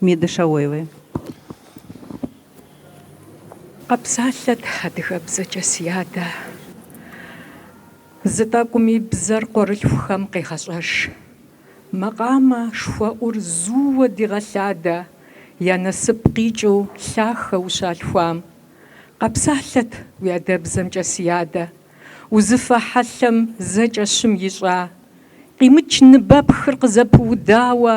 Миды Шаоевой. Къэпсалъэт адыгэбзэкӏэ, си адэ. Зы тӏэкӏуми бзэр къуэрылъхухэм къегъэщӏэж. Макъамэ шхуэӏур зууэ дигъэлъадэ я насып къикӏыу лъахэ ущалъхуам. Къэпсалъэт уи адэбзэмкӏэ, си адэ. Узыфэ хьэлъэм зэкӏэ щым ищӏа. Къимыч ныбэпхыр къызэпыудауэ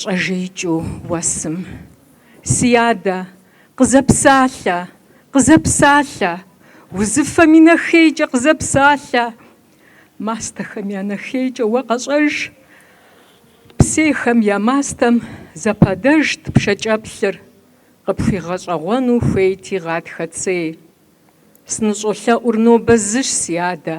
Щӏэжеикӏыу уэсым, си адэ, къызэпсалъэ, къызэпсалъэ, узыфэм и нэхейкӏэ къызэпсалъэ, мастэхэм я нэхейкӏэ уэ къэщӏэж. Псейхэм я мастэм зэпадэжт пшэкӏэплъыр, къыпхуигъэщӏэгъуэну хуейти гъатхэ цей. Сыныщӏолъэӏур нобэ зыщ, си адэ,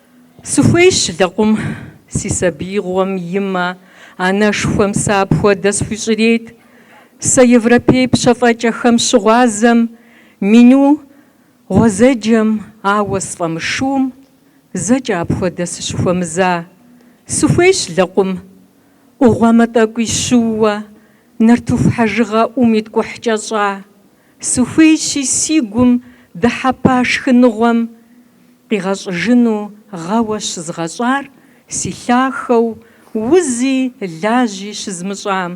Сыхуейщ лэкъум си сабиигъуэм и мэ, анэшхуэм сэ апхуэдэ схуищӏрейт. Сэ европей пщэфӏэкӏэхэм щыгъуазэм, меню гъуэзэджэм, ауэ сфӏэмышуум, зэкӏэ апхуэдэ сыщыхуэмыза. Сыхуейщ лэкъум ӏугъуэмэ тӏэкӏуи щыууэ, нартыху хьэжыгъэ ӏум иткӏухькӏэ щӏа. Сыхуейщи си гум дыхьэпа шхыныгъуэм къигъэщӏыжыну гъэуэ щызгъэщӏар си лъахэу, узи лажьи щызмыщӏам.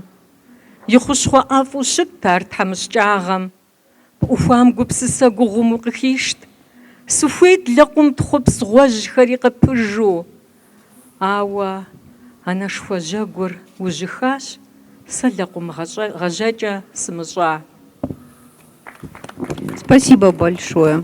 И хущхъуэ ӏэфӏу щытт ар тхьэмыщкӏагъэм. Пӏухуам гупсысэ гугъум укъыхишт. Сыхуейт лэкъум тхъупс гъуэжьхэри къыпыжу. Ауэ анэшхуэ жьэгур ужьыхащ, сэ лэкъум гъэжьэкӏэ сымыщӏа. Спасибо большое.